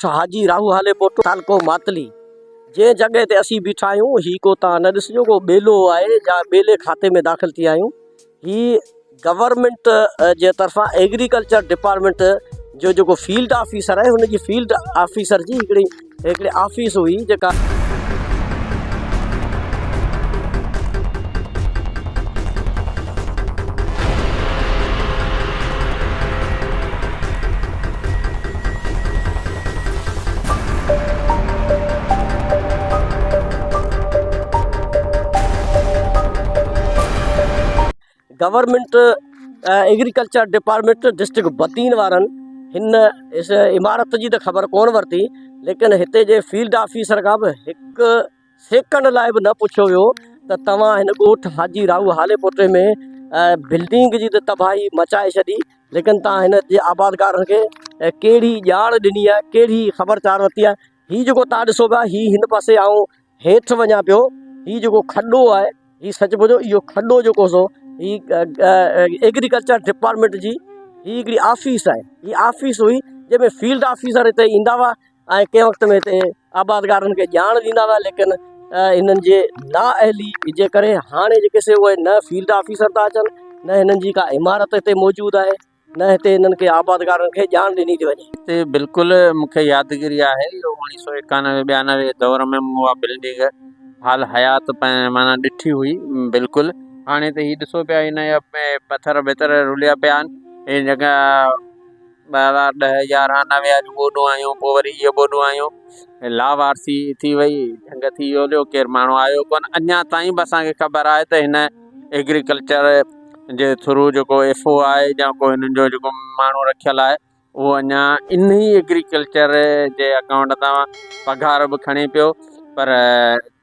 ڳوٺ حاجي راهو هالي پوٽو تعلقو ماتلي جنهن جڳهه تي اسين بيٺا آهيون هي ڪو تان نه ڏسجو ڪو ٻيلو آهي جا ٻيلي کاتي ۾ داخل ٿي آهيون هي گورنمنٽ جي طرفان ايگريڪلچر ڊپارٽمنٽ جو جيڪو فيلڊ آفيسر آهي هن جي فيلڊ آفيسر جي هڪڙي هڪڙي آفيس هئي جيڪا گورنمينٽ ايگريڪلچر ڊپارٽمينٽ ڊسٽرڪٽ بتين وارن هن عمارت جي ته خبر ڪونه ورتي ليڪن هتي جي فيلڊ آفيسر کان به هڪ سيڪنڊ لاء به نه پڇيو ويو ته توهان هن ڳوٺ حاجي راهو هالي پوٽي ۾ بلڊنگ جي ته تباهي مچائي ڇڏي ليڪن توهان هن جي آبادگارن کي ڪهڙي ڄاڻ ڏني آهي ڪهڙي خبر چار ورتي آهي هي جيڪو توهان ڏسو پيا هي هن پاسي آئون هيٺ وڃان پيو هي جيڪو کڏو آهي هي سچ پچ اهو کڏو جيڪو سو هي ايگريڪلچر ڊپارٽمنٽ جي هي هڪڙي آفيس آهي هي آفيس هئي جنهن ۾ فيلڊ آفيسر هتي ايندا هئا ۽ ڪنهن وقت ۾ هتي آبادگارن کي ڄاڻ ڏيندا هئا ليڪن هنن جي نا اهلي جي ڪري هاڻي جيڪي سي اهي نه فيلڊ آفيسر ٿا اچن نه هنن جي ڪا عمارت هتي موجود آهي نه هتي هنن کي آبادگارن کي ڄاڻ ڏني ٿي وڃي. هتي بلڪل مون کي يادگيري آهي جو اوڻيهه سؤ ايڪانوي ٻيانوي جي دور ۾ مون اها بلڊنگ حال حيات معنيٰ ڏٺي هئي بلڪل هاڻي ته هي ڏسو پيا هن جا پٿر بٿر رليا پيا آهن هي جڳهه ٻه هزار ڏهه يارهن نوي اڄ ٻوڏون آيون پوء وري اهي ٻوڏون آيون لاوارثي ٿي وئي جهنگ ٿي ويو هليو ڪير ماڻهو آيو ڪونه اڃا تائين به اسان کي خبر آهي ته هن ايگريڪلچر جي ٿرو جيڪو ايف او آهي جا ڪو هنن جو جيڪو ماڻهو رکيل آهي اهو اڃا انهي ايگريڪلچر جي اڪائونٽ تان پگهار به کڻي پيو پر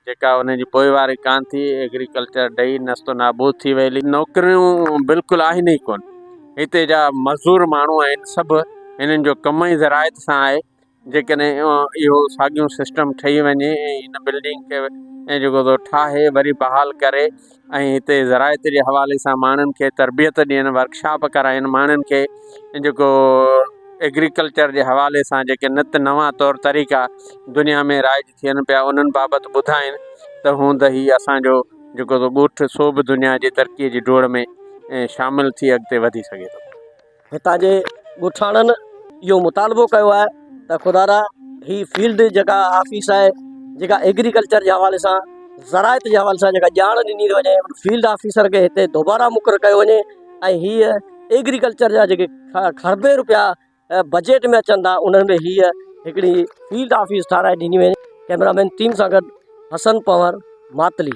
جيڪا انهن جي پوئواري ڪانه ٿي، ايگريڪلچر ڊهي نست و نابود ٿي ويل. نوڪريون بلڪل آهن ئي ڪونه. هتي جا مزدور ماڻهو آهن سڀ هنن جو ڪم ئي زراعت سان آهي. جيڪڏهن اهو ساڳيون سسٽم ٺهي وڃي ۽ هن بلڊنگ کي جيڪو سو ٺاهي وري بحال ڪري ۽ هتي زراعت جي حوالي سان ماڻهن کي تربيت ڏين ورڪشاپ ڪرائين ماڻهن کي جيڪو ايگريڪلچر جي حوالي سان جيڪي نت نوان طور طريقا دنيا ۾ رائج ٿين پيا انهن بابت ٻڌائين ته هون ته هي اسان جو جيڪو سو ڳوٺ سو به دنيا جي ترقي جي ڊوڙ ۾ شامل ٿي اڳتي وڌي سگهي ٿو. هتان جي ڳوٺاڻن اهو مطالبو ڪيو آهي ته خدارا هي فيلڊ جيڪا آفيس آهي جيڪا ايگريڪلچر جي حوالي سان زراعت جي حوالي سان جيڪا ڄاڻ ڏني ٿي وڃي ان فيلڊ آفيسر کي هتي دوبارا مقرر ڪيو وڃي ۽ هيء ايگريڪلچر جا جيڪي کڙبين روپيا بجيٽ ۾ اچن ٿا انهن ۾ هيء هڪڙي فيلڊ آفيس ٺهرائي ڏني وڃي ڪئميرا مين ٽيم سان گڏ حسن پنور ماتلي.